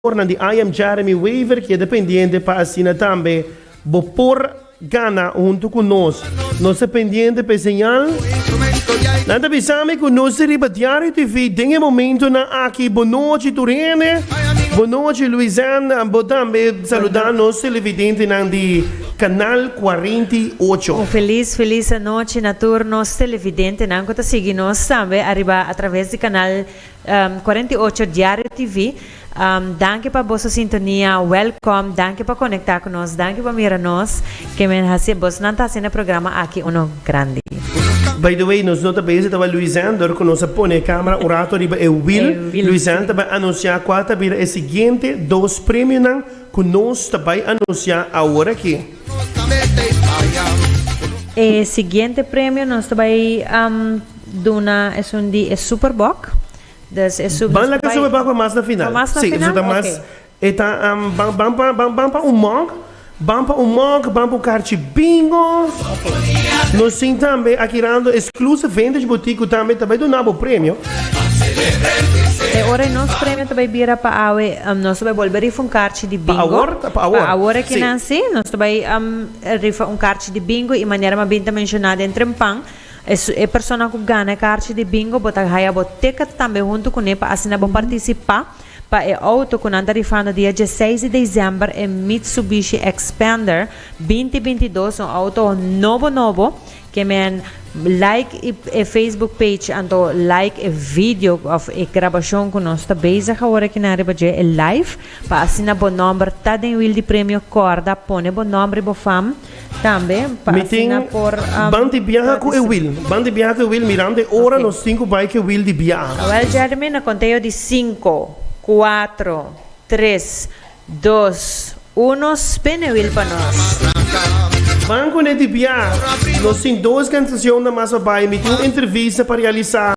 Jugadornan di IM Jeremy Wever kieda pendiente pa asina tambe bo por gana hunto cu nos. Nos ta pendiente p'e señal. Nan ta bisa mi cu nos ta riba Diario TV den e momentonan aki. Bo nochi tur hende. Bo nochi Luizen. Bo tambe saluda nos televidentenan di Canal cuarenta i ocho. Un feliz feliz anochi na tur nos televidentenan cu ta sigui nos tambe ariba a traves di Canal Cuarenta y ocho Diario TV, Danki pa boso sintonia, welcome, danki pa conecta cu nos, danki pa mira nos, ke men haci, bosnan ta hacendo e programa aki uno grandi. By the way, nos no ta bay si ta bay Luizen, dor cu nos a pone e camera un rato riba e wiel, Luizen ta bay anuncia cua ta bira e siguiente dos premionan cu nos ta bay anuncia aworaki. E siguiente premio nos ta bay. Duna esun di e superbòk. Dus e su Ban laga superbòk pa mas na final. Pa mas na final? Si, esun ta mas Oke. E ta am ban ban pa ban ban pa un mòk, ban pa un mòk, ban pa un karchi bingo. Nos tin tambe aki rando exclusive vintage boutique ku tambe ta bai duna bo premio. E ora e nos premio ta bai bira pa awe, am nos ta bai bolbe rifa un karchi di bingo. awor ta- pa awor, Pa awor aki si. nan si. Nos ta bai am rifa un karchi di bingo i manera mi a binta menshona den Trempan, E persona ku gana e karchi di bingo bo ta haya bo ticket tambe huntu kuné pa asina bo partisipá pa e outo ku nan ta rifando dia dieseis di desèmber e Mitsubishi Xpander binti binti i dos un outo nobo nobo ke men like e facebook page anto like e video òf e grabashon ku nos ta bezig awor aki nan riba dje e live pa asina bo nòmber ta den wil di premio kòrda pone bo nòmber i bo fam. Mi tin ban di biaha ku e wil. Ban di biaha ku e wil mirando e ora nos tin ku bai ku e wil di biaha. Awel Jeremy na konteo di sinku, kuatro, tres, dos, uno spin e wil pa nos. Ban kuné di biaha. Nos tin dos kansacion na mas pa bai. Mi tin un entrevista pa realisá.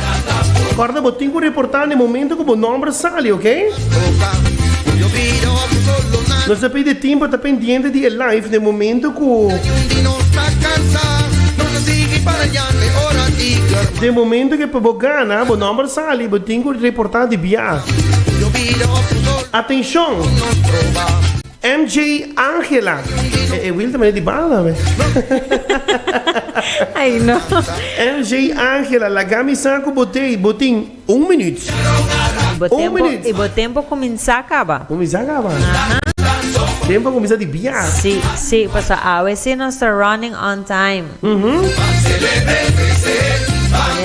Corda bo tin cu reporta na e momento cu bo nomber sali ok. Nos ta pidi tin pa ta pendiente di e live na e momento cu na e momento cu bo gana bo nomber sali bo tin cu reporta di bia. Atencion! MJ Angela. E, e Wilde mane di bala, me. Ay, no. MJ Angela, la gami saku botei, botin, un minuut. Un minuut. Y bo tempo kuminsa kaba. Kuminsa kaba. Aha. Tempo kuminsa di bia. Si, si, paso awe si nos ta running on time. Mhm.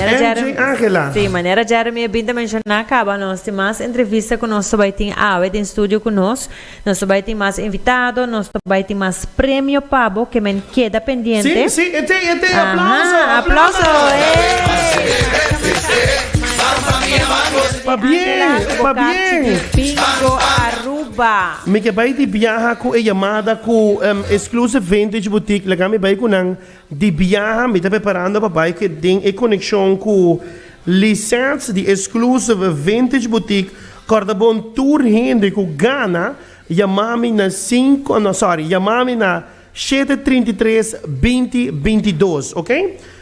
MJ Angela. Si, manera Jeremy a binta menshona kaba, nos tin mas entrevista ku nos ta bai tin awe den studio ku nos. Nos ta bai tin mas invitado, nos ta bai tin mas premio pa bo, ke men keda pendiente. Sí, sí, e te, e te, aplauso, aplauso, eh. Pa bien, pa bien. Mi ke bai di biaha ku e yamada ku Exclusive Vintage Boutique, laga mi bai ku nan. Di biaha mi ta preparando pa bai den e konekshon ku Lisette di Exclusive Vintage Boutique kòrda bon tur hende ku gana yama mi na sinku no sòri yama mi na shete trinta i tres binti binti dos ok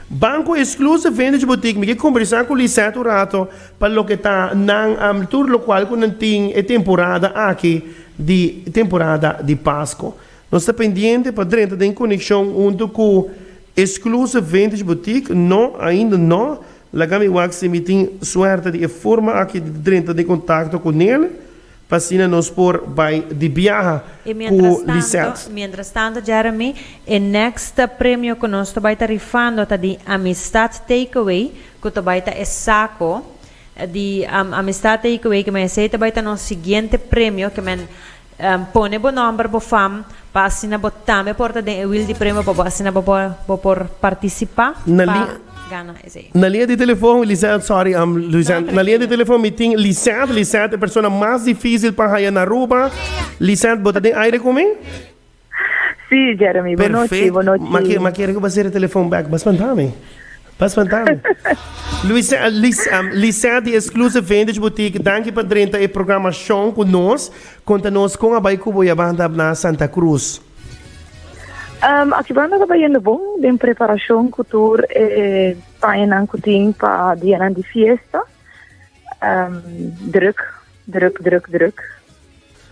ban ku Exclusive Vintage Boutique mi ke kombersá ku Lisette un rato pa loke ta nan tur lokual ku nan tin e temporada aki di temporada di Pasko Nos ta pendiente pa drenta den konekshon huntu ku Exclusive Vintage Boutique. No, ainda no. Laga mi wak si mi tin suerte di e forma aki di drenta den kontakto ku Nele, pa asina nos por bai di biaha I ku mientras tanto, Lisette. mientras tanto Jeremy, e next premio ku nos ta bai ta rifando ta di Amistad Takeaway, ku ta bai ta e sako di Amistad Takeaway, kimen esei ta bai ta nos siguiente premio, kimen. Pone bo nòmber, bo fam, pa asina bo tambe por ta den e wil di premio pa bo asina bo por bo por partisipá pa gana esei. Na linea di telefon Lisette sorry am Lisette na linea di telefon mi tin Lisette Lisette e persona mas difícil pa haya na Aruba Lisette bo ta den aire cu mi? Sí, Jeremy, bo nochi, bo nochi. Ma ke, ma kere ku basere telefon back, bas pantami. Bas pantami. Luis, eh, Lis, um, Lisette di Exclusive Vintage Boutique, danki pa drenta e programashon ku nos. Konta nos kon a bai kubo ya banda na Santa Cruz. Um, aki banda ta bayendo bon den preparashon ku tur e pañanan ku tin pa dianan di fiesta. Um, druk, druk, druk, druk.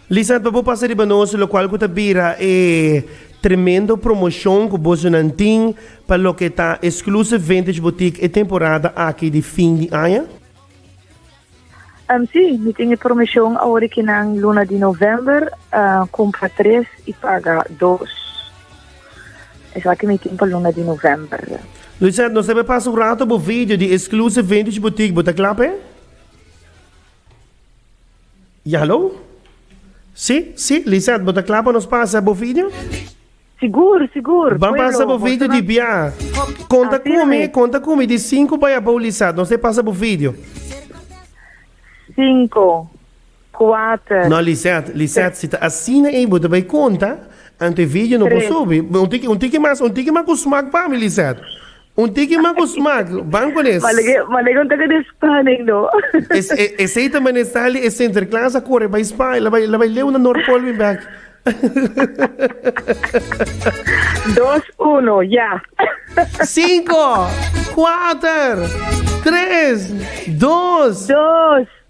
Lisa, pa bo pasa riba nos, lo cual cu ta bira e tremendo promoción cu boso nan tin pa lo que ta Exclusive Vintage Boutique e temporada aki di fin di aña? Um, sí, mi tin e promoción ahora que nan luna di november, uh, cumpra tres y paga dos. Esaki mi tin pa luna di november. Lucette, nos ta be pasa un rato bo video di Exclusive Vintage Boutique. Bo ta kla p'e? Ya, hallo? Si, si, Lisette, bo ta kla pa nos pasa bo video? Sigur, sigur. Ban pasa bo video di bia. Konta Así kumi, mi. konta kumi di sinku bai abou, Lisette. Nos te pasa bo video. Cinco. Kuater. No Lisette, Lisette si ta asina ei bo ta bai konta anto e video no por subi. Un tiki un tiki mas un tiki mas ku smak pa mi Lisette. Un tiki mas ku smak. Ban ku nes. Manega un taka di spanning no. Esei ta mane Sally e Sinterklaas a kore bai Spaña la bai la bai leuna Noordpool bin bek. Dos uno ya. Cinco kuater tres dos. Dos.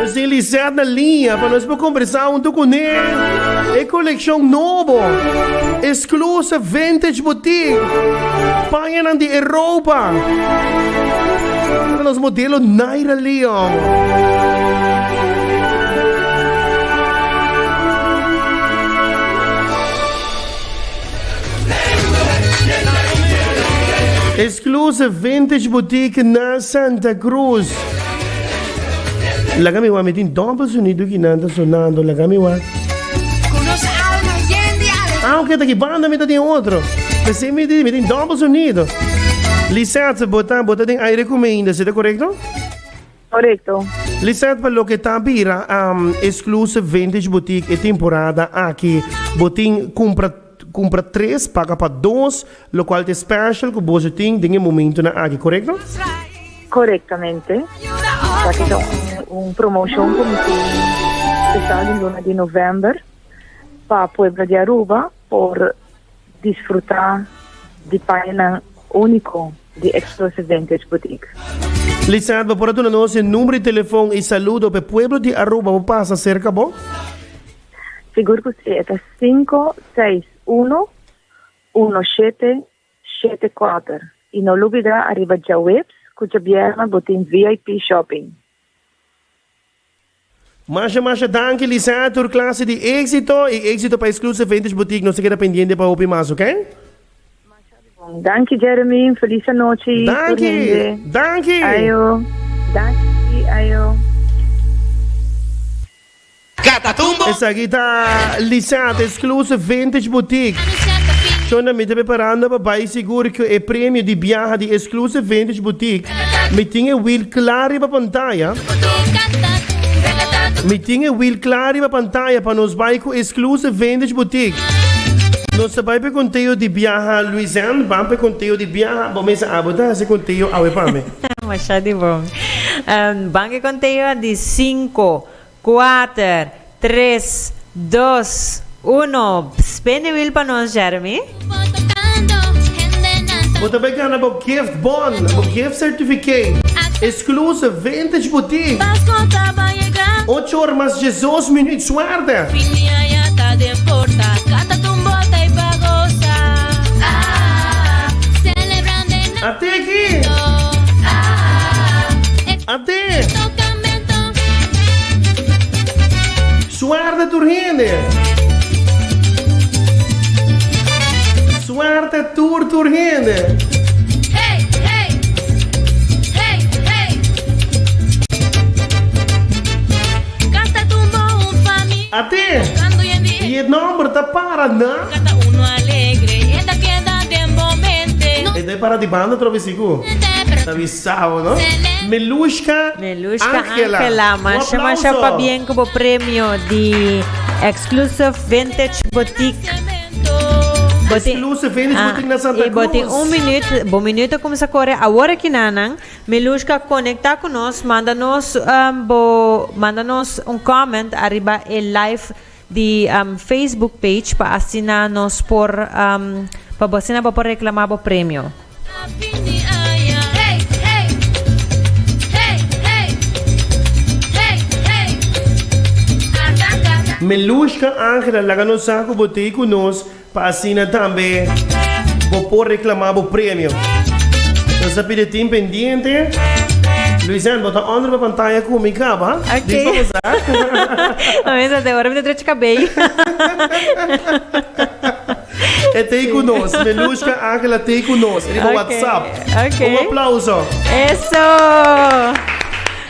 José Lisset na liña pa nos por conversa hunto cu ne. E coleccion nobo, Exclusive Vintage Boutique, pañanan di Europa, pa nos modelo Naira Leon. Exclusive Vintage Boutique na Santa Cruz. Laga mi wa, mi tin dobbel sonido ki nan ta sonando. Laga mi wa. Ah, ok, taki banda mi ta tin otro. Pese mi tin, mi tin dobbel sonido. Lisette, bota, bota den aire kume inda, sete correcto? Correcto. Lisette pa loke ta bira um, exclusive vintage boutique e temporada aki bo tin cumpra cumpra tres paga pa dos lo cual te special cu boso tin den e momento na aki correcto? Correctamente. Taki ta un, un promotion cu mi tin special di luna di november pa pueblo di Aruba por Disfruta di payanan unico di Explosive Vintage Boutique. Licenciado bo por a duna nos e number di telefon y saludo p'e pueblo di Aruba bo pasa cerca bo? Sigur cu si, e ta cinco seis uno uno shete shete cuater. Y no lubida ariba djaweps cu djabierna bo tin VIP shopping. Masha masha danki Lisette tur klase di éksito i éksito pa e Exclusive Vintage Boutique nos ta keda pendiente pa hopi mas oke. Masha di bon. Danki Jeremy, un felis anochi tur Danki! hende. Danki! Ayo. Danki, ayo. Catatumbo! Esaki ta Lisette Exclusive Vintage Boutique. Shonda mi ta preparando pa bai sigur cu e premio di biaha di Exclusive Vintage Boutique Mi tin e wiel kla riba pantaya. Mi tin e wiel kla riba pantaya pa nos bai ku Exclusive Vintage Boutique. Nos ta bai pa e konteo di biaha Luizen, ban pa e konteo di biaha bo mester abo ta hasi konteo awe pa mi. Masha di bon. Ban e konteo di sinku. Kuater, tres, dos, uno, Spin di wiel pa nos, Jeremy. Bo ta bai gana bo gift bon, bo gift certificate, exclusive vintage boutique. Ocho or mas diesdos minuut suerte. Suerte tur hende. Suerte tur tur hende. Hey hey Hey hey Kasta tumbo un fami Ate Bukando yende e e nomber ta para na Kata uno alegre e ta keda den bo mente E ta para di banda trobesi ku. Ente pero. Sabado, Melushka Melushka Angela, masha masha pabien ku bo premio di Exclusive Vintage Boutique. Bo tin Exclusive Vintage Boutique na Santa Cruz. I bo tin un minüt, bo minüt a kumsa kore awor aki nannan. Melushka konektá ku nos, manda nos bo manda nos un comment ariba e live di Facebook page pa asina nos por pa asina bo por reclama bo premio. Melushka Angela laga nos sa cu bo ta y cu nos. Pa asina tambe bo por reklama bo premio. Bo sa pidi tin pendiente. Luisèn, bo ta ònder pa pantaya ku mi kaba. Di esposa. Bo mester ta ora mi ta trechi kabei. E tei ku nos. Melushka Ángela tei ku nos riba whatsapp. Un aplauso. Eso!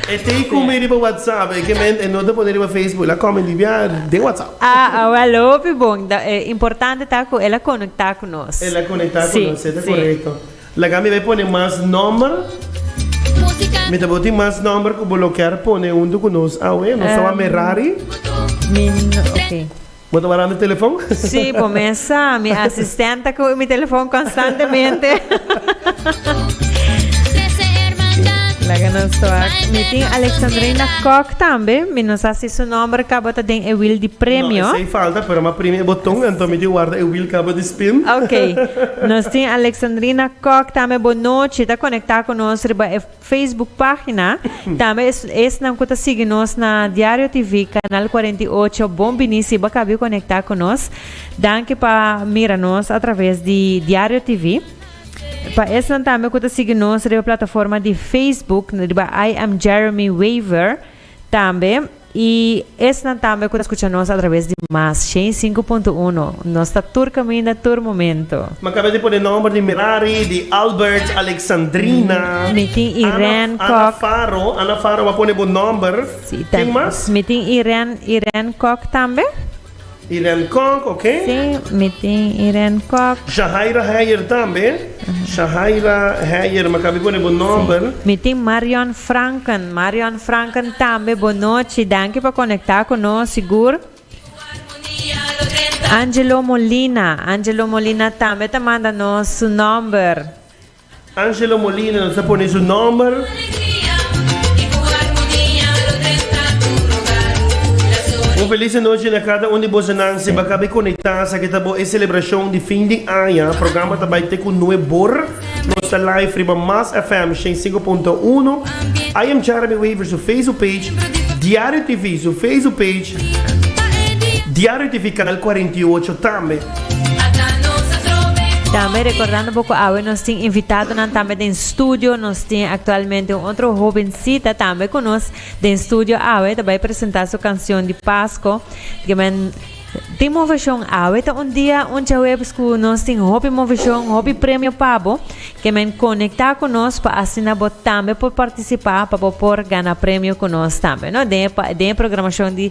E ta e come riba WhatsApp, e kement e no ta pone riba Facebook, el a come di bia den WhatsApp. Ah, awel hopi bon. Da, e importante ta cu el a conecta cu nos. El a conecta cu nos, e ta corecto. Laga mi bai pone mas nomber. Mi ta bo tin mas nomber cu bo lo kier pone hunto cu nos awe. Nos tawal Merari. Mi no, ok. Bo ta wara mi telefon? Sí, bo mesa. Mi asistente ta cubi mi telefon constantemente. Laga nos toa. Mi tin Alexandrina Kok tambe. Mi no sa si su nomber caba ta den e wil di premio. No, esey falta, pero mi a primi e boton, enton mi tin warda e wil caba di spin. Ok. Nos tin Alexandrina Kok tambe. Bo nochi. Ta conecta cu nos riba e. Facebook página, tambe esnan ku ta sigui nos na Diario TV, Kanal Kuarenta i Ocho, bon biní si bo kabio konektá ku nos. Danki pa mira nos atraves di Diario TV. Pa esnan tambe ku ta sigui nos riba plataforma di Facebook, riba I am Jeremy Weaver tambe. I esnan tambe ku ta skucha nos atraves di mas shen sinku punto uno. Nos ta tur kaminda, tur momento. M'a kaba di pone nòmber di Mirari, di Albert, Alexandrina. Mi tin Irène Kòk. Ana Faro, Ana Faro, m'a pone bo nòmber. Ken mas? Mi tin Irène, Irène Kòk tambe. Irène Kok, ok. Sí, mi tin Irène Kok. Shahaira Heyer tambe. Shahaira Heyer, makabe pone bo nòmber. Sí. Mi tin Marion Franken. Marion Franken tambe bonochi. Danki pa konektá ku nos, sigur. Angelo Molina. Angelo Molina tambe ta manda nos su nòmber. Angelo Molina nos a pone su nomber. Un felis anochi na cada un di bosonan siba cabe conecta sa que ta bo e celebracion di fin di aña programa ta bay te cu nue bor nos ta live riba mas FM 105.1 IM chara mi waver su Facebook page diario TV su Facebook page diario TV canal 48 tambe. Tambe recordando bo cu awe nos tin invitadonan tambe den studio. Nos tin actualmente un otro jovencita tambe cu nos den studio awe. Ta bay presenta su cancion di Pasco. Di men tin movesion awe. Ta un dia, un chawebs cu nos tin hopi movesion, hopi premio pa bo. Ke men conecta cu nos pa asina bo tambe por participa pa bo por gana premio cu nos tambe, no? Den e, den e programacion di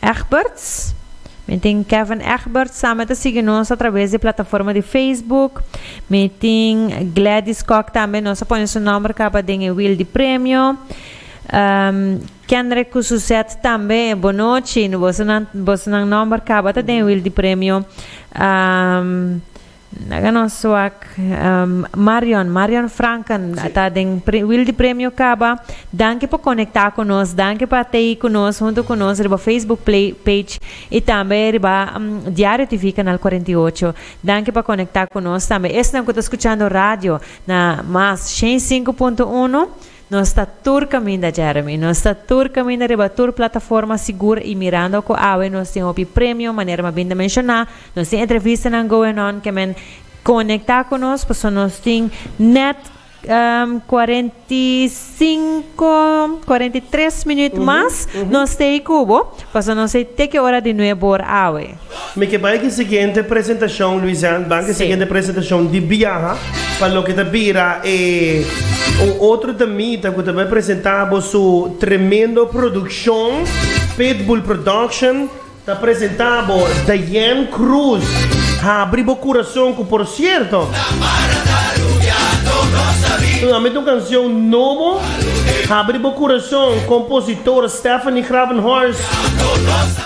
Egberts. Mi tin Kevin Egberts tambe ta sigui nos atraves di plataforma di Facebook. Mi tin Gladys Kok tambe, nos a pone su nomber caba den e wil di premio. Kendrick cu su set tambe, bonochi, boso nan, boso nan nomber caba ta den e wil di premio. Laga nos wak Marion, Marion Franken ta den wildi premio kaba. Danki pa konektá ku nos, danki pa ta ei ku nos huntu ku nos riba Facebook play page i tambe riba Diario TV kanal kuarenta i ocho. Danki pa konektá ku nos tambe esnan ku ta skuchando radio na mas shen i sinku punto uno. Nos ta tur kaminda, Jeremy. Nos ta tur kaminda riba tur plataforma sigur i mirando ku awe nos tin hopi premio, manera m'a bin ta menshoná, nos tin entrevistanan going on ke men konektá ku nos pasobra nos tin nèt kuarenta i sinku, kuarenta i tres minüt mas nos stay kubo, pasobra nos stay teke ora di nuebu or awe. Mi ke bai di siguiente presentashon, Luisian, bai di siguiente presentashon di biaha pa loke ta bira e un otro damita ku ta bai presentá bo su tremendo produkshon, Pitbull Production ta presentá bo Diane Cruz, Habri bo kurason, ku por sierto, un ami ta un kansion nobo, Habri bo kurason, kompositor Stephanie Gravenhorst.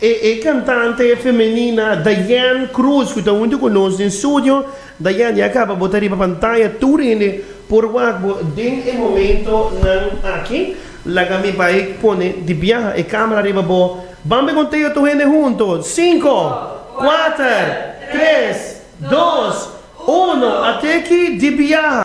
E e cantante femenina Diane Cruz cu ta hunto cu nos den studio. Diane ya caba bo ta riba pantaya tur hende por wak bo den e momento nan aki. Laga mi bay pone di biaha e camera riba bo. Ban be conteo tur hende hunto cinco, cuater, tres, dos, uno, ateki di biaha.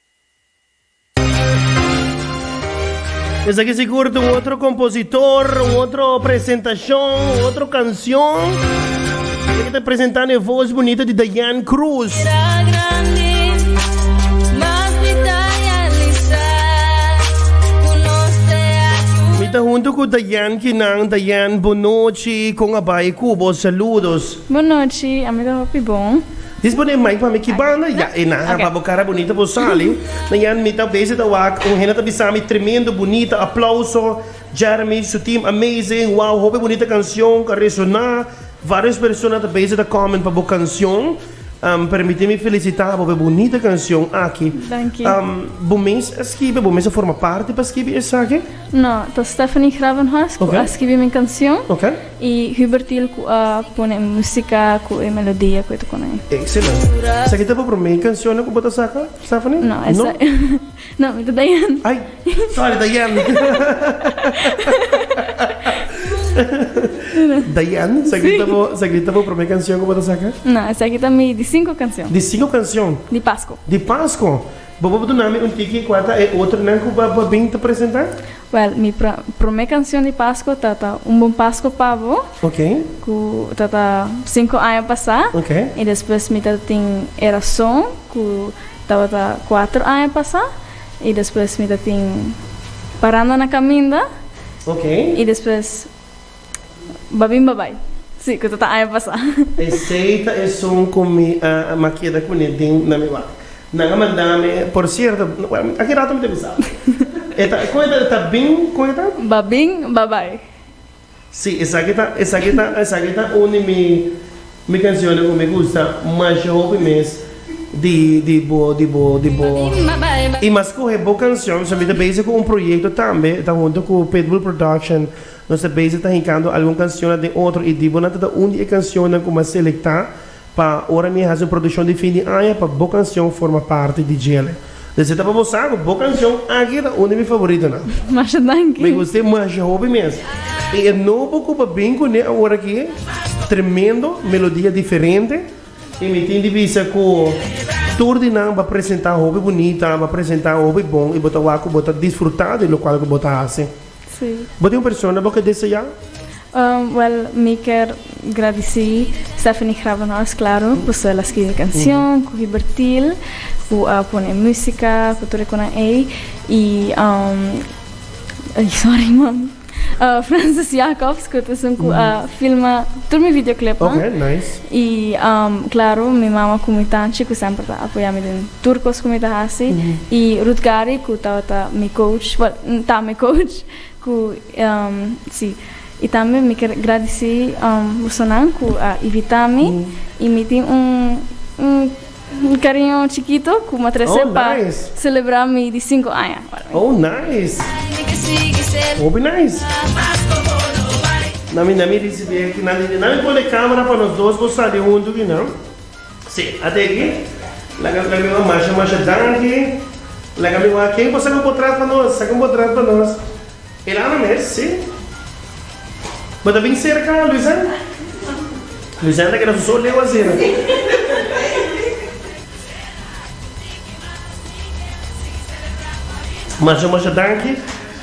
Esaki sigur ta un otro kompositor, un otro presentashon, un otro kanshon. Ke ku ta presentá na e vos bunito di Diane Cruz. Mi ta huntu ku Diane kinan. Diane, bonochi. Kon a bai ku bo? Saludos. Bon nochi, ami ta hopi bon. Dis bo den mai pa mi ki banda? Ya e nan haba bo cara bunita bo sali na yan mi ta vezi ta wak un hende ta bisami tremendo bunita aplauso Jeremy su team amazing wow hopi bunita cancion ta resona varios persona ta bezi ta comment pa bo cancion permiti mi felicita bo pa e bunita cancion aki bo mes a skibi bo mes a forma parti pa skibi esaki? No ta Stephanie Gravenhorst cu a skibi mi cancion. Y Hubertil cu a pone e musica cu e melodia cu e ta pone ahí. Excelente. Esaki ta bo prome cancionnan cu bo ta saca, Stephanie? No, esa no, mi ta Diane. Ay, sorry Diane. Diane, esaki ta bo, esaki ta bo prome cancion cu bo ta saca? No, esaki ta mi di cinco cancion. Di cinco cancion? Di Pasco. Di Pasco. Bobo duna mi un tiki cua ta e otronan cu bo a bin ta presenta? Well mi prome cancion di Pasco ta ta un bon Pasco pa bo cu ta ta cinco aña pasa y despues mi ta tin e razon cu tabata cuatro aña pasa y despues mi ta tin paranda na caminda y despues. Babin babai. Si, cu ta ta aña pasa. Esey ta esun cu mi a makeda cu ne den na mi wak. Nan a manda mi, por cierto, bueno, aki rato mi ta bisa. E ta, con e ta, e ta bin, con e ta? Babin babai. Si, esaki ta, esaki ta, esaki ta un di mi, mi cancionnan cu mi gusta masha hopi mes di, di bo, di bo, di bo. Babin babai. Y mas coge bo cancion, so mi ta bezig cu un proyecto tambe, ta hunto cu Pitbull Production. Nos ta bezig ta hincando algun cancionnan den otro idibonan ta ta un di e cancionnan cu m'a selecta pa ora mi a haci un produccion di fin di aña pa bo cancion forma parti di djele. Deci ta pa bo sa cu bo cancion aki ta un di mi favoritonan. Masha danki. Mi gust'e masha hopi mes. Y e nobo cu pa bin cu ne aworaki, tremendo, melodia diferente. Y mi tin di bisa cu tur di nan b'a presenta hopi bunita, b'a presenta hopi bon y bo ta wak cu bo ta disfruta di locual cu bo ta haci. Sí. Bo tin un persona bo ke deseá? Um, well, mi ker gradicí Stephanie Gravenhorst, claro, cu su el a scribi cancion cu Hibertil, cu a pone musica, cu tur e cunan ey. Y, um, ay, sorry, mom. Uh, Francis Jacobs, cu ta esun cu a filma tur mi videoclipnan. Oké, nice. Y, um, claro, mi mama cu mi tanchi, cu semper ta apoyá mi den. Tur cos cu mi ta haci. Y Ruth Gary cu tabata mi coach, well, ta mi coach, cu, si. Y tambe mi ker gradici bosonan cu a invita mi y mi tin un, un cariño chikito cu mi a trece pa celebra mi di cinco aña. Oh, nice! Hopi nice! Na mi, na mi ricibi aki, na mi, na mi pone camera pa nos dos bo sali huntu, Dina. Sí, a te aki. Laga laga mi wak masha masha danki. Laga mi wak ken por saca un potrat pa nos, saca un potrat pa nos. El a habla mes, sí. Bo ta bin cerca Luisèn? Luisèn ta keda su so leu asina. Masha masha danki.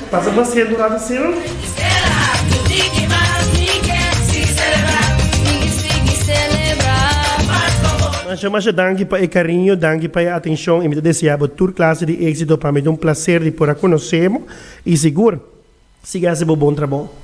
Pasa paciente un rato asina. Gisela, tu di ki mas mi kier sigui celebra. Sigui sigui celebra mas pa bo. Masha masha danki pa e cariño, danki pa e atencion y mi ta desea bo tur clase di exito, pa mi ta un placer di por a conoce bo y sigur sigui haci bo bon trabou.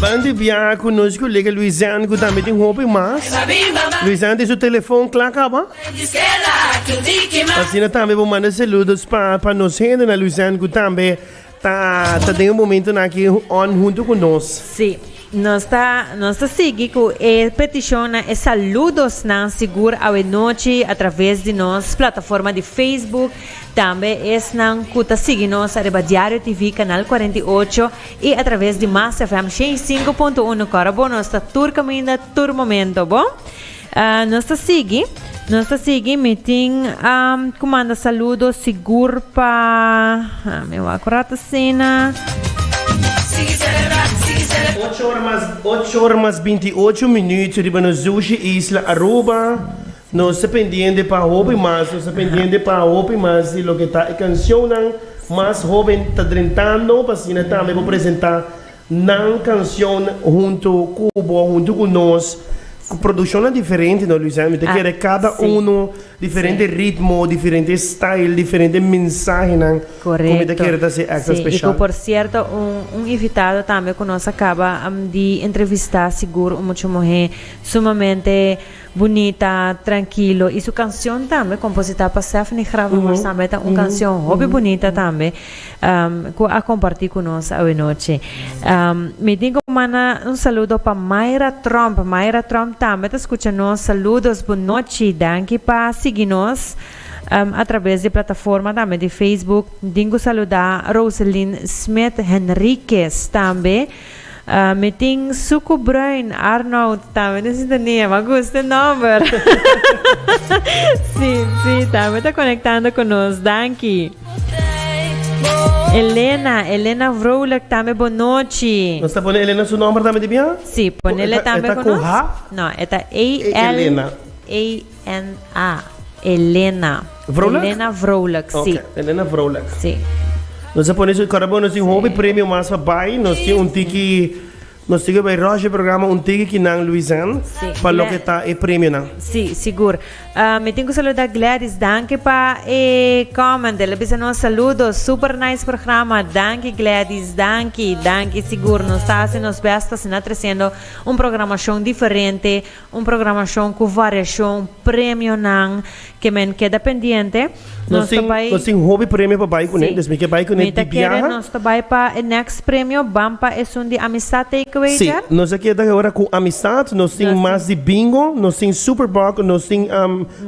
Ban di biaha ku nos kolega Luisan ku tambe tin hopi mas. Luisan tin su telefon kla kaba. Asina tambe bo manda saludos pa pa nos hende na Luisan ku tambe ta ta den momento na ki on hunto ku nos. Sí. Nos ta nos ta sigui cu e peticionnan, e saludosnan sigur awe nochi a traves di nos plataforma di Facebook, tambe esnan cu ta sigui nos ariba Diario TV canal cuarenta i ocho y a traves di Mas FM shei i sinku punto uno Cora bo nos ta tur caminda tur momento bo. Ah, nos ta sigui, nos ta sigui. Mi tin um, ku manda saludo sigur pa... Ah, mi wak un rato sina. Ocho ora mas, ocho ora mas binti ocho minuut riba nos Zushi Isla Aruba. Nos ta pendiente pa hopi mas, nos ta pendiente pa hopi mas di loke ta e cancionnan mas hoben ta drentando, pa asina tambe por presenta Nan canción hunto cu bo, hunto cu nos, cu produccionnan diferente no Luisana, mi ta kere cada uno diferente ritmo, diferente style, diferente mensahenan cu mi ta kere ta haci extra special. Y cu por cierto un un invitado tambe cu nos a caba di entrevista sigur un mucho muhe sumamente. Bunita, trankilo i su kanshon tambe kompositá pa Sefni Graf en Horsama e ta un kanshon hopi bunita tambe ku a kompartí ku nos awenochi. Mi tin ku manda un saludo pa Mayra Tromp, Mayra Tromp tambe ta skucha nos, saludos, bon nochi, danki pa sigui nos atrabes di plataforma tambe di Facebook. Mi tin ku saludá Roselyn Smith Henriquez tambe. Ah, mi tin suku bruin, Arnoud tambe den sintonia. Ma gusta el nomber. sí, sí, tambe ta conectando con nos. Danki. Elena, Elena Vrolijk tambe bonochi. Nos ta pone Elena su nombre tambe di bien? Sí, ponele tambe con nos. No, eta A L A NA. Elena. Vrolijk? Elena Vrolijk, si. Oké, Elena Vrolijk. Si. Nos a pone su carabo, nos tin hopi premio mas pa bai. Nos tin un tiki, nos tiki bai Roger programa un tiki ki nan Luisan Sí. pa lo que ta e premio nan. Si, sigur. Ah, mi tin ku saluda Gladys. Danki pa e comment. El a bisa nos saludo. Super nice programa. Danki Gladys. Danki, danki. Sigur, nos ta hasi nos best pa asina tresendo un programashon diferente Un programashon ku variashon, premionan ke men keda pendiente. Nos ta bai. Nos tin hopi premio pa bai kuné, dus mi ke bai kuné di biaha. Si, mi ta kere nos ta bai pa e next premio, ban pa esun di Amistad Takeaway dje. Si, nos a keda ora ku Amistad, nos tin mas di Bingo, nos tin Super Bug, nos tin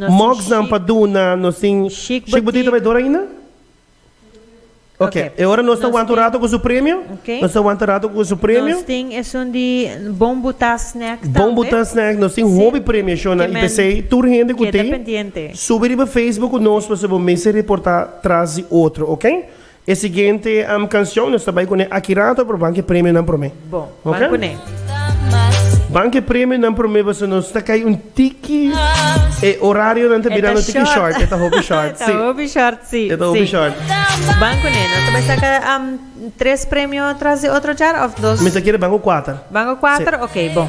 mugsnan pa duna, nos tin Chic Boutique ta bai dor ainda? Ok, e ora nos ta wanta un rato cu su premio. Ok. Nos ta wanta rato cu su premio. Nos tin esun di bon buta snack tambe. Bon buta snack, nos tin hopi premio shona y pesey tur hende cu tin subi riba Facebook cu nos pasobra bo mester reporta tras di otro, ok. E siguiente cancion nos ta bay cu ne aki rato, pero ban cu e premionan prome. Ban cu ne. Ban cu e premionan prome pasobra nos ta cay un tiki. E horarionan ta bira nos tiki short. E ta hopi short, si. E ta hopi short, si. E ta hopi short. Ban cu ne. Nos ta bay saca tres premio tras di otro djar of dos? Mi ta kere ban cu cuater. Ban cu cuater? Ok, bon.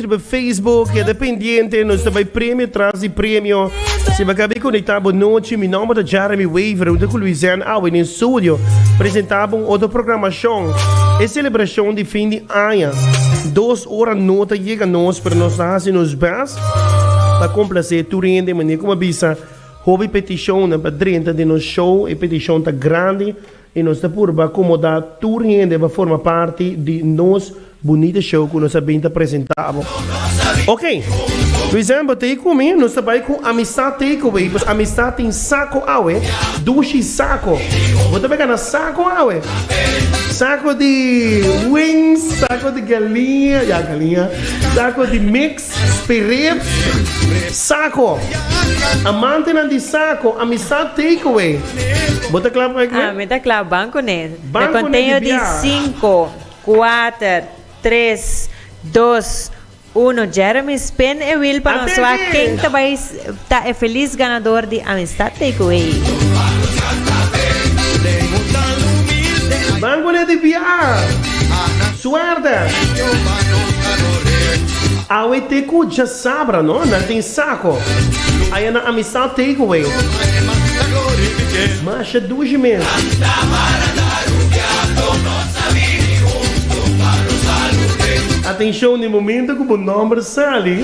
Riba Facebook, keda pendiente, nos ta bay premio tras di premio. Si ba cabe conecta bo noche, mi nomber ta Jeremy Waver, junto cu Luizen Awe den studio, presenta bo un otro programacion. E celebracion di fin di aña, dos ora no ta yega nos, pero nos ta haci nos best pa complace tur hende, manier como a bisa, hopi peticionnan pa drenta den nos show, e petition ta grandi, I nos ta purba komoda tur hende pa forma parti di nos bunita show ku nos a bin ta presenta abo. Ok! December tei ku mi, nos ta bai ku Amistad Takeaway, pues Amistad tin sako awe, dushi sako. Bo ta beka na sako awe? Sako di wings, sako di galinha, ya galinha, sako di mix. Spirit Saco. Amantenan di Saco, Amistad Takeaway. Bo ta kla pa e kwe? Ah, mi ta kla. Banco ne. Banco ne di bia. Na konteño di sinku, kuater, tres, dos, uno. Jeremy, spin e wheel pa nos wak ken ta bai. Ta e felis ganador di Amistad Takeaway. Mangonet di biaha. Suerte. Awe te ku djasabra no nan tin sako aya na Amistad Takeaway. Masha dushi mes. Atencion di momento ku bo nomber sali.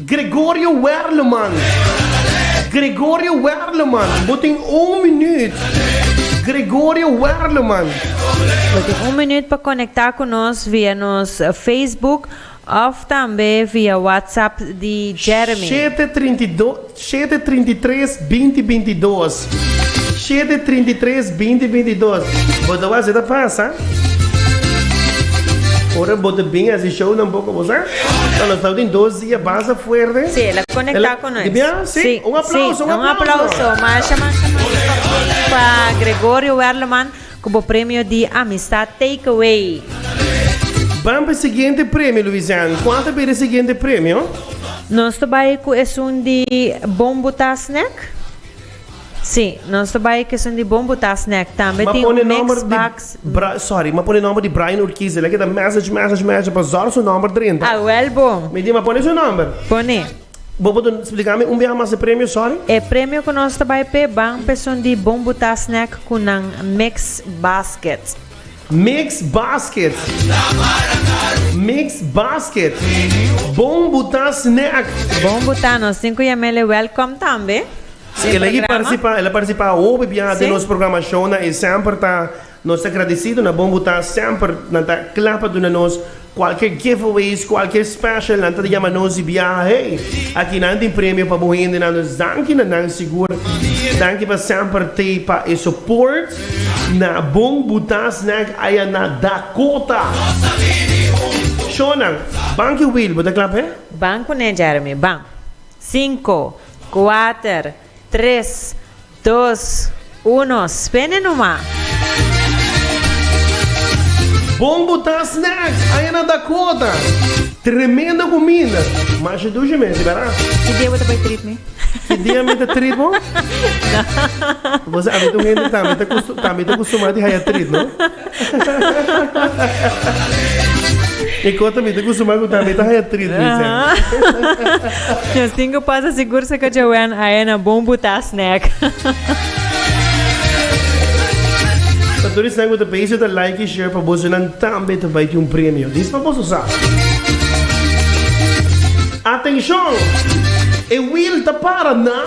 Gregorio Werleman Gregorio Werleman Bo tin un minuut Gregorio Werleman. Bo tin un minuut pa konekta ku nos via nos Facebook òf tambe via WhatsApp di Jeremy. Shete trinta i dos shete trinta i tres binti binti dos. Shete trinta i tres binti binti dos bo ta wak si ta pasa ora bo ta bin hasi show nan poko bo sa ta lo stau tin dos dia basta fuerte Sí, el a conecta cu nos. Dipia? Sí. Un aplauso, un aplauso. Masha, masha, masha pa Puri y pa Gregorio Werleman cu bo premio di Amistad Takeaway. Bam pa e siguiente premio Louisian cual ta bira e siguiente premio? Nos ta bay cu esun di Bombuta Snack. Sí, nos ta bai kesun di bon butá snack. Tambe tin un mix box di. Sorry, m'a pone nòmber di Brian Urquiz. El a keda mèsèj, mèsèj, mèsèj pa zòrg su nòmber drenta. Awèl bo. Mi di, m'a pone su nòmber? Pone. Bo putu spliká mi un biaha mas e premio? Sòri. E premio ku nos ta bai p'e ban pesun di bon butá snack ku nan mix basket. Mix basket Mix basket Bon bu ta snack. Bon bu ta nos tin ku Yamele welkom tambe Si el a yi partisipa el a partisipa hopi biaha den nos programa show nan e semper ta nos ta gradisido na bon bu ta semper nan ta kla pa duna nos Cualkier giveaways, cualkier special nan ta di yama nos di biaha hey. Aki nan tin premio pa bo hende nan dus danki na nan sigur. Danki pa semper te pa e support na bon buta snack aya na Dakota. Shownan, banki Wil bo ta klap he? Ban kuné Jeremy, ban. Cinco, cuater. Tres, dos, uno, spene nu ma! Bon botá snacks aña na Dakota. Tremendo cuminda. Masha dusha mes di bera. Ki dia bo ta bay treat mi? Ki dia mi ta treat bo? Bo sa, ami ta un hende tambe ta custumá di haya treat, no? E kota mi ta kustumbrá ku tambe ta haya tris mi sèn. Nos tin ku pasa sigur se ka Joanne ahe na bon butá snèk. Pa tur esnan ku ta pensa ta like i share pa bosonan tambe ta bai tin un premio. Dis pa boso sa. Atenshon! E wheel ta para na.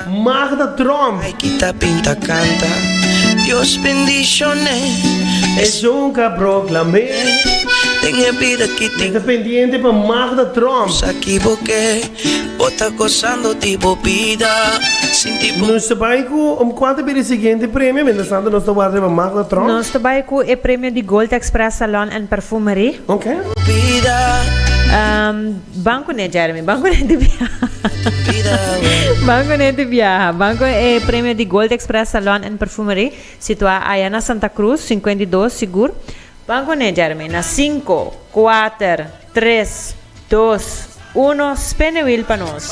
Magda Tromp. Ai kita pinta canta Dios bendicion'e e yunca proclam'e. Den e bida ki tin. Mester pendiente pa Magda Tromp. Nos a kiboke bo ta gozando di bo bida sinti bo. Nos ta bai ku kua ta bira e siguiente premio mientras tanto nos ta warda riba Magda Tromp. Nos ta bai ku e premio di Gold Express Salon and Perfumery. Oke. Bo bida. Banco ne Jeremy, banco ne di biaha, banco ne di biaha, banco e premio di Gold Express Salon and Perfumery situa aya na Santa Cruz cincuenta y dos sigur, banco ne Jeremy na cinco, cuater, tres, dos, uno spin the wheel pa nos.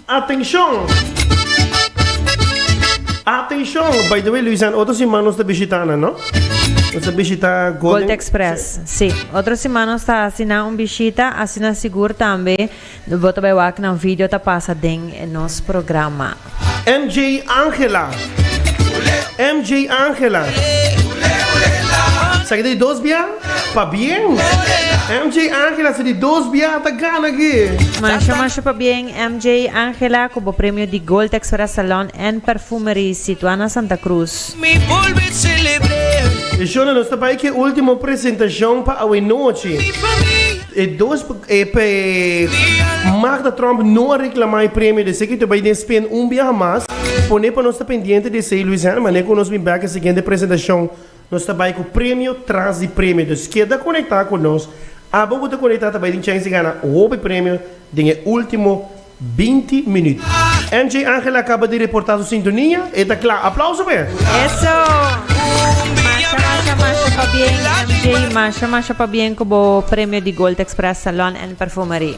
Atencion! Atencion! By the way Luisan, otro siman nos ta bishita nan no? Nos ta bishita Golden. Gold Express, si. Otro siman nos ta haci nan un bishita, asina sigur tambe bo ta bay wak nan video ta pasa den nos programa. MJ Angela, MJ Angela, sa ki ta di dos bia? Pa bien! MJ Angela sa di dos bia ta gana gi. Masha masha pa bien MJ Angela cu bo premio di Gold Texora Salon and Perfumery situa na Santa Cruz. E shona nos ta bay cu e ultimo presentacion pa awe nochi. E dos pe Magda Trump no a reclama e premio de esey cu ta bay den spin un biaha mas. Pone pa nos ta pendiente di esey Luis Herman, ne cu nos bin bek e siguiente presentacion. Nos ta bai ku premio tras di premio, dus keda konektá ku nos, abo ku ta konektá ta bai tin chèns di gana hopi premio den e último binti minüt. MJ Angel a kaba di reportá su sintonia, e ta kla! Aplauso pa e! Eso! Masha masha masha pa bien MJ, masha masha pa bien ku bo premio di Gold Express Salon and Perfumery.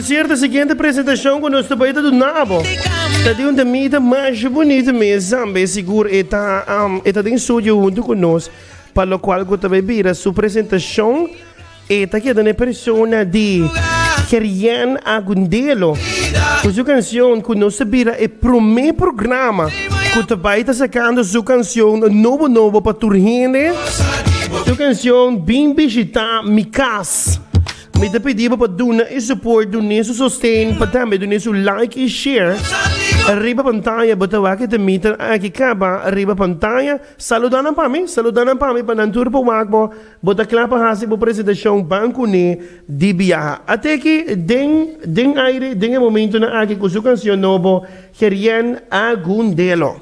Cierto, siguiente presentacion cu nos ta bay ta duna abo ta di un temita masha bunito mes ambe y sigur e ta e ta den studio hunto cu nos pa lo cual cu ta bay bira su presentacion e ta keda n'e persona di Kerian Agundelo cu su cancion cu nos ta bira e prome programa cu ta bay ta sacando su cancion nobo nobo pa tur hende su cancion Bin Bishita Mi Cas. Mi ta pidi bo pa duna e support, dun'é su sosten, pa tambe dun'é su like i share riba pantaya. Bo ta wak e ta meter aki kaba riba pantaya. Saluda nan pa mi, saluda nan pa mi pa nan tur por wak bo. Bo ta kla pa hasi bo presentashon ban kuné di biaha. Ate aki den den aire den e momentonan aki ku su kansion nobo Gerien Agundelo.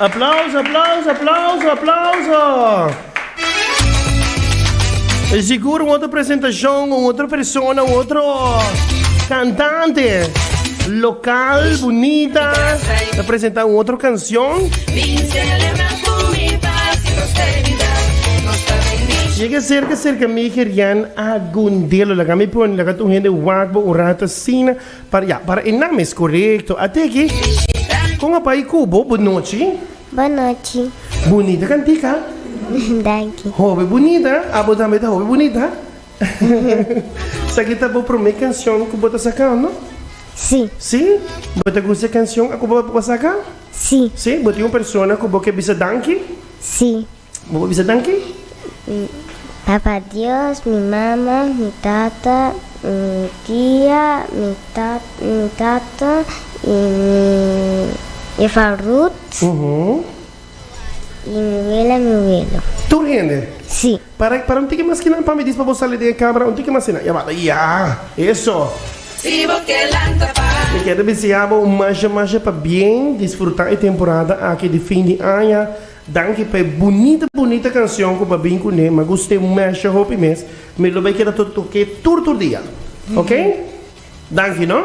Aplauso aplauso aplauso aplauso E sigur un otro presentacion un otro persona un otro cantante local bunita ta presenta un otro cancion. Llega cerca, cerca mi gerian algún delo. Laga mi pone, laga tu gente wakbo un rato sina. Para ya, para e nam es correcto. Ateki, con a pai cubo, bonochi. Bonochi. Bonita cantica. Danki. Hobe bonita. Abo tambe ta hobe bonita. Sakita bo prome canción ku bo ta sacando? Sí. Sí? Bo ta gusta canción a ku bo saca? Sí. Sí? Bo tin un persona ku bo ke bisa danki? Sí. Bo por bisa danki? Papa Dios, mi mama, mi tata, mi tia, mi mi tata i mi jefa Ruth i mi wela i mi welu. Tur hende? Sí. Para, para un tiki mas kinan pa mi dis pa bo sali den e camera un tiki mas kinan ya bata ya eso. Si bo ke lanta pa. Mi kere deseá bo un masha masha pa bien disfrutá e temporada aki di fin di aña. Danki pa e bunita bunita canción cu bo bin cuné. M'ha gust'é un masha hopi mes. Mi lo bai keda totoké tur tur dia. Ok? Danki no.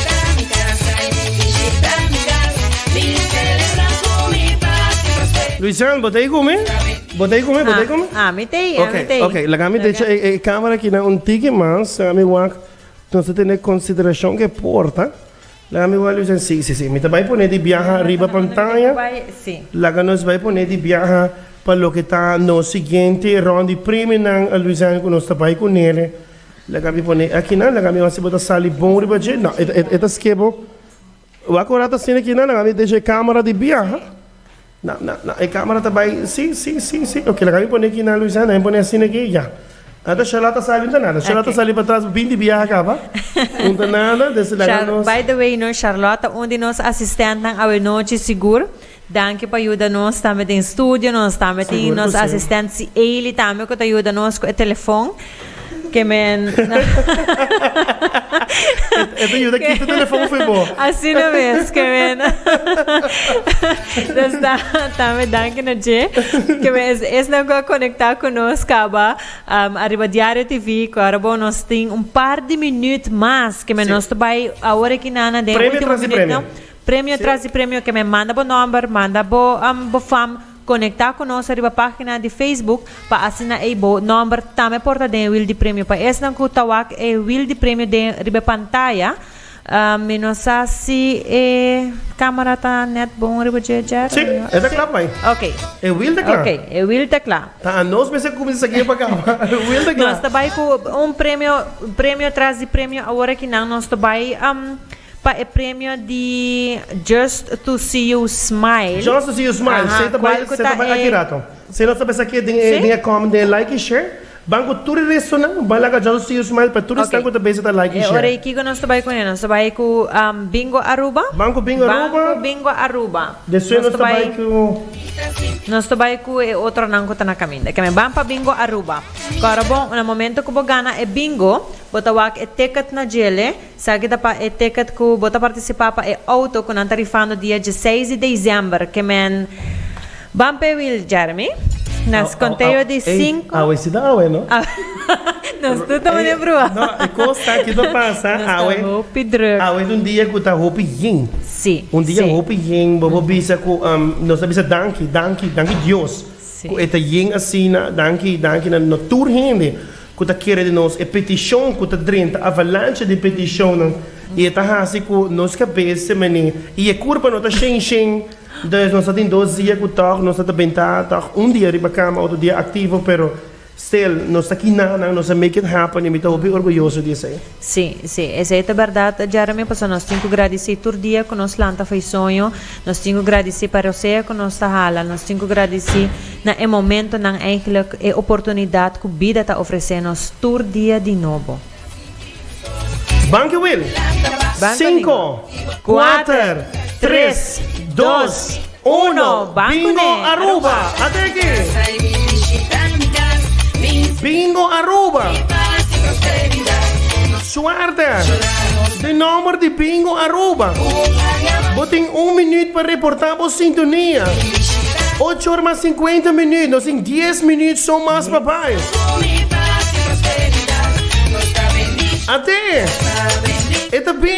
Luisan, bo ta ikun mi? Bo ta ikun mi? Bo ta ikun mi? Ah, mi tei, ah, mi tei. Ok, ok. Laga mi decha e, e camera aquí na un tiki mas. Laga mi wak. Nos te tene consideracion ke porta. Laga mi wak, Luisan. Si, si, si. Mi ta bai pone di biaha riba pantaya. Si. Laga nos bai pone di biaha pa loke ta nos siguiente rond di premionan, Luisan, ku nos ta bai ku nele. Laga mi pone aki nan, laga mi hasi bo ta sali bon riba dje, no e e e ta ske bo wak ora ta asina aki nan, laga mi desha e camera di biaha, no no no e camera ta bai si si si si ok laga mi pone aki nan Luisa, nan mi pone asina aki ya, nan ta shela ta sali nan ta nada, shela ta sali patras bin di biaha kaba, nan ta nada, desi laga nos. Shar by the way no Sharlota un di nos asistentnan awe nochi sigur. Danki pa yuda nos tambe den studio, nos tambe tin nos asistent Sieli tambe ku ta yuda nos ku e telefon, ke men E ta yuda kita telefon fu bo. Asina mes ke men nos ta tambe danki na dje ke men es esnan ku a konekta ku nos kaba ariba Diario TV ku ora bo nos tin un par di minüt mas ke men nos ta bai awor aki nan na den ultimo minütnan. Premio tras di premio ke men manda bo nòmber, manda bo bo fam, konektá ku nos riba página di Facebook pa asina ei bo nòmber tambe por ta den e wil di premio. Pa esnan ku ta wak e wil di premio den riba e pantaya, mi no sa si e kámara ta nèt bon riba dje djè. Sí, e ta kla pa mi. Oke. E wil ta kla. Oke, e wil ta kla. Ta anos mester kuminsá sa gie pa kaba. E wil ta kla. Nos ta bai ku un premio, premio tras di premio awor aki nan nos ta bai. Pa e premio di Just to see you smile. Just to see you smile. Aha. Cual cu ta e. Si nos ta pensa aki den e den e comment den e like y share ban cu tur e resonan ban laga Just to see you smile pa tur esnan cu ta bes ta like y share. Ok e ora y kico nos ta bay cu ne? Nos ta bay cu Bingo Aruba. Ban cu Bingo Aruba. Ban cu Bingo Aruba. Despues nos ta bay cu. Nos ta bay cu e otronan cu ta na caminda. Ok mi ban pa Bingo Aruba. Cora bon na momento cu bo gana e Bingo bo ta wak e ticket na djele. Sa ki ta pa e ticket ku bo ta partisipa pa e outo ku nan ta rifando dia dieseis di dezember ke men Ban pe Wil Jeremy nos konteo di sinku Awe si ta awe no. Nos tur ta mane brua. No, e kos ta ki ta pasa awe. Nos ta hopi druk. Awe ta un dia ku ta hopi yin. Si, si. Un dia hopi yin, bobo bisa ku nos ta bisa danki, danki, danki Dios ku e ta yin asina, danki, danki na tur hende. ku ta kere di nos e petishon ku ta drenta avalansha di petishonnan i e ta hasi ku nos kabes mene i e kurpa no ta shen shen. Entonces nos ta tin dos dia ku tòg nos ta ta bentá tòg un dia riba kama otro dia aktivo pero still nos ta kinanan nos ta make it happen i mi ta hopi orguyoso di esei. Sí, sí, esei ta bèrdat. Jeremy, paso nos tin ku gradisí tur dia ku nos lanta fai soño. Nos tin ku gradisí pa rosea ku nos ta hala. Nos tin ku gradisí na e momentunan eiglek, e oportunidat ku bida ta ofresé nos tur dia di nobo. Banki Wil. Banki Wil. Sinku. Kuater, tres, dos, uno, Bingo Aruba! A te aki! Bingo Aruba! Suerte! Den nomber di Bingo Aruba, bo tin un minuut pa reportá bo sintonia. Ocho or mas sinkuenta minuut, nos tin dies minuut so mas pa bai. A te! E ta bingo!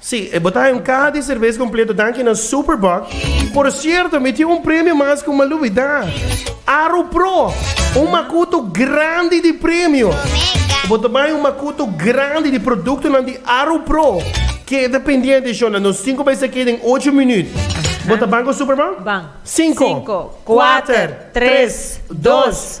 Sí, e botá en caha di cerveza completo danki na Superboc. Por cierto, mi tin un premio mas cu m'a lubidá. Aru Pro, un macuto grandi di premio. Bo ta bay un macuto grandi di productonan di Aru Pro. Keda pendiente, shonda, nos cinco bay sa keda en ocho minuut. Bo ta ban cu Superboc? Ban. Cinco. Cinco, kuater, tres, dos,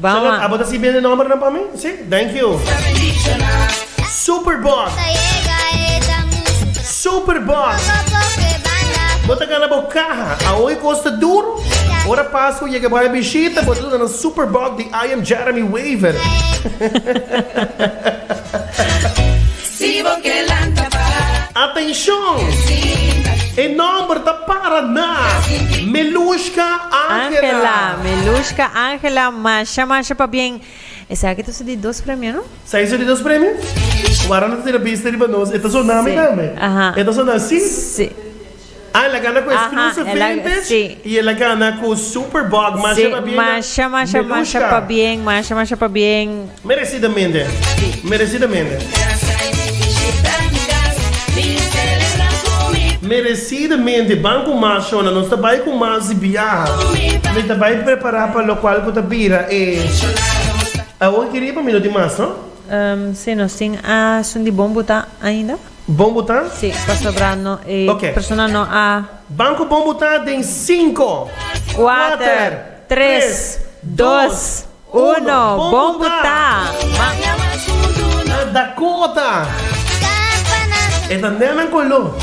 Charlotte, abo ta si bende nombernan pa mi? Si? Thank you. Superbox. Superbox. Bo ta gana bo kaha. A hoy kosta duro. Ora pasa bo yega bai a bishita, bo ta duna nan Superbox di I Am Jeremy Waver. Si bo ke lanta pa. Atenshon! E nòmber ta para na Melushka Angela. Angela, Melushka Angela, masha masha pabien. Esaki ta su di dos premio, no? Sa e su di dos premio? Wara no ta tira bista riba nos, e ta sona mi tambe. E ta sona si? Si. Ah el a gana cu Escrew su vintage y el a gana cu Super Bog masha pa bien na Melushka. Merecidamente. Merecidamente ban cu mas shona nos ta bay cu mas di biaha mi ta bay prepara pa locual cu ta bira e Awo y Kiriba mi no tin mas no. Bon bu ta? Sí, pasobra no e persona no a. Ban ku bon bu ta den sinku, kuater, tres, dos, uno, bon bu ta! Dakota! E ta nena ku lu.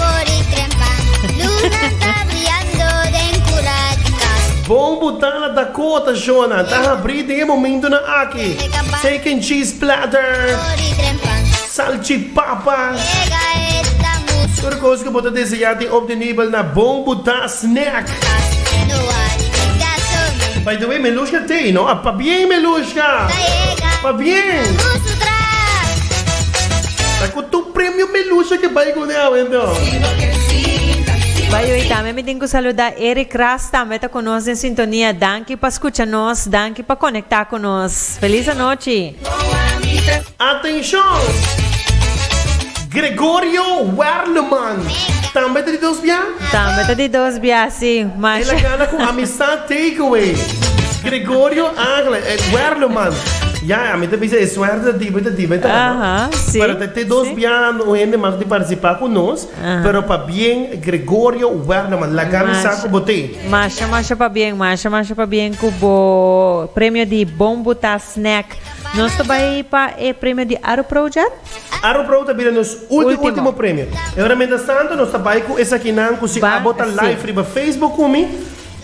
Bon bu ta na Dakota, Shona. Ta habrí den e momentunan aki. Steak and cheese platter. Salchipapa. Tur kos ku bo ta deseá tin op di nibel na bon bu ta snack. By the way Melushka Thee no a pabien Melushka pabien. Ta ku tur premio Melushka ke bai kuné awe no. By the way tambe mi tin ku saluda Eric Ras tambe ta ku nos den sintonia danki pa skucha nos danki pa konektá ku nos. Felis anochi. Atenshon! Gregorio Werleman tambe ta di dos bia? Tambe ta di dos bia, si, masha. El a gana ku Amistad Takeaway. Gregorio Angele Werleman. Ya, a mi ta bisa e suerte ta diba i ta diba e ta no. Aha, si. Pero ta te dos bia un hende mas ku tin partisipa ku nos, pero pabien Gregorio Werleman. Laga mi sa ku bo te. Masha, masha pabien, masha, masha pabien ku bo premio di Bon Buta Snack. Nos ta bai pa e premio di Aropro dja? Aropro ta bira nos ulti ultimo premio. E ora mientras tanto nos ta bai cu esakinan cu si a bo ta live riba Facebook cu mi,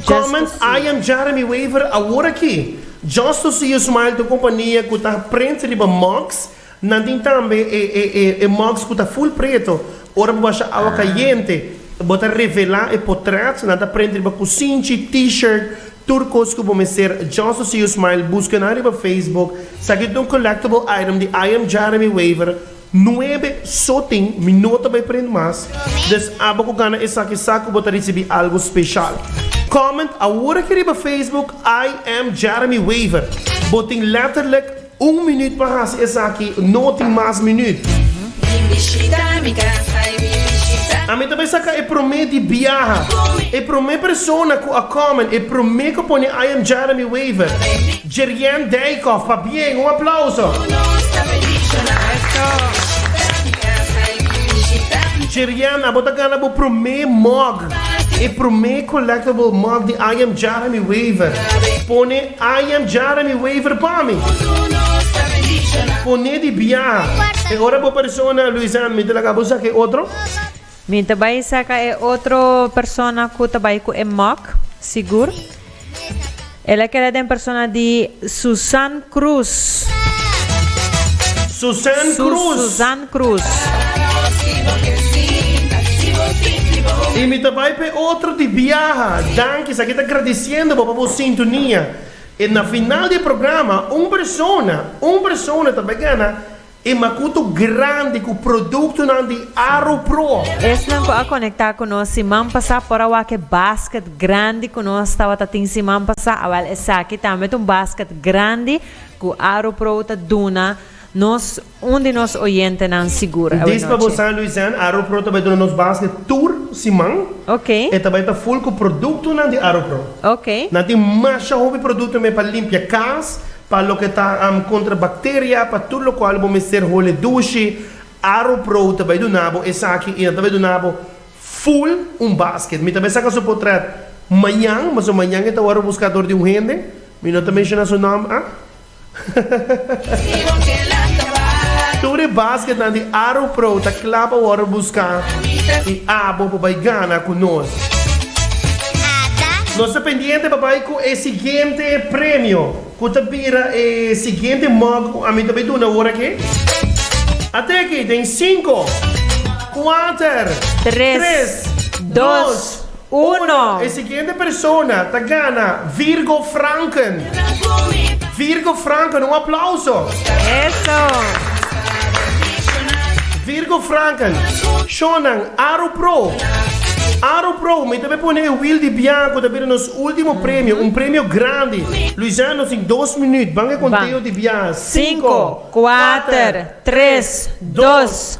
comment I am Jeremy Wever awor aki, just to see you smile to compania cu ta print riba mugs, nan tin tambe e e e e mugs cu ta full preto, ora bo washa awa cayente bo ta revela e potret, nan ta print riba cusinchi, t-shirt, Tur kos ku bo mester, Johnson C. Usmail buska nan riba Facebook, sa ki ta un collectible item di I Am Jaremy Wever nuebe so tin, mi no ta bai print mas, dus aba ku gana esaki sa ku bo ta risibi algu speshal. Comment awor aki riba Facebook I Am Jaremy Wever, bo tin letterlijk. Un minüt pa hasi esaki no tin mas minüt. Bin bishita mi casa y bin bishita. Ami ta bai saca e prome di biaha. E prome persona cu a comment, e prome cu pone I am Jeremy Wever, Jerrianne Dijkhoff, pa bien, un aplauso. Cu nos ta bendiciona. Bishita mi casa y bin bishita mi. Jerrianne, abo ta gana bo prome mug, e prome collectible mug di I am Jeremy Wever. Pone I am jara mi waiver pa mi. Pone di biaha. E ora bo persona Luisan mi ta laga bo saka e otro. Mi ta bai saka e otro persona ku ta bai ku e mok, sigur. El a keda den persona di Susan Cruz. Susan Cruz. Y mi ta bay p'e otro di biaha. Danki, esaki ta gradiciendo bo pa bo sintonia. E na final di e programa un persona, un persona ta bay gana e makuto grandi ku produktonan di Aropro. Esnan ku a konekta ku nos siman pasá por a wak e basket grandi ku nos tabata tin siman pasá. Awèl, esaki tambe ta un basket grandi ku Aropro ta duna nos. Un di nos oyentenan sigur awe Dis pa bo nochi. San Luisean, Aropro ta bai duna nos basket tur siman. Ok. E ta bai ta ful ku produktonan di Aropro. Ok. Nan tin masha hopi produktonan pa limpia kas, pa loke ta am kontra bakteria, pa tur lokual bo mester hole dushi. Aropro ta bai duna bo esaki i nan ta bai duna bo ful un basket. Mi ta bai saka su potrèt mañan, pasobra mañan e ta wòrdu buskador di un hende. Mi no ta menshona su nòmber, ah. Tur e basketnan di Arrow Pro ta kla pa wòrdu buska i abo pa bai gana ku nos. Nos ta pendiente pa bai ku e siguiente premio, ku ta bira e siguiente mug ku ami ta bai duna ora ke. Ate aki den sinku, kuater, tres, dos. Uno. E siguiente persona ta gana Virgo Franken. Virgo Franken, un aplauso. Eso. Virgo Franken, Shonan, Aru Pro. Aru Pro, mi ta be pone e wiel di biaha ku ta bira nos ultimo premio, un premio grandi. Luisana, nos tin dos minüt. Ban e konteo di biaha. Sinku, kuater, tres, dos.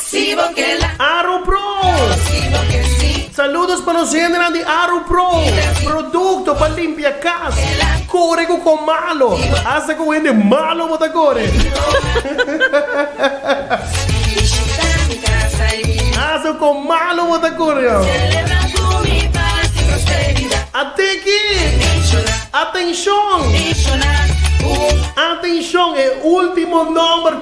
Si bo ke la. Aru Pro. Si bo ke si. Saludos pa nos hendenan di Aru Pro. Producto pa limpia cas. Core cu con malo. Hasta con hende malo bo ta core. Hasta con malo bo ta core yo. Ateki. Atencion. Atencion e ultimo number.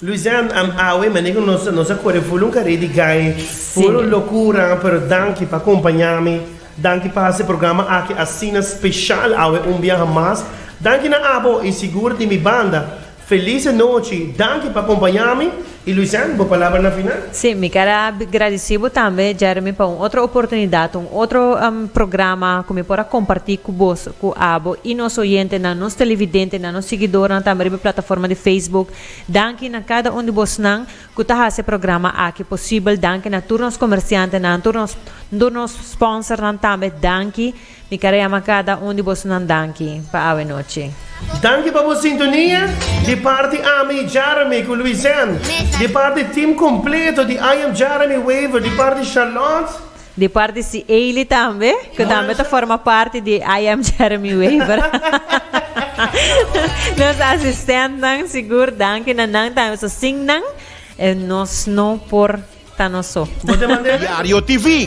Luisean am awe mane cu nos nos a core full un caré di gai full un locura pero danki pa acompaña mi danki pa haci programa aki asina special awe un biaha mas danki na abo y sigur di mi banda felice nochi danki pa acompaña mi y Luisean bo palabra na final. Sí, mi ker a gradici bo tambe Jeremy pa un otro oportunidad, un otro programa cu mi por a comparti cu bos, cu abo y nos oyentenan, nos televidentenan, nos siguidornan tambe riba e plataforma di Facebook. Danki na kada un di bosnan ku ta hasi e programa aki posibel, danki na tur nos komersiantenan, tur nos tur nos sponsornan tambe danki. Mi kara yama kada un di bosnan danki pa awe nochi. Danki pa bo sintonia, di parti ami Jeremy ku Luisen, di parti tim kompleto di I am Jeremy Wever, di parti Charlotte. Di parti si Eilly tambe, cu tambe ta forma parti di I Am Jeremy Wever. Nos asistentnan, sigur, danki na nan tambe, so sin nan e nos no por ta no so. Diario TV.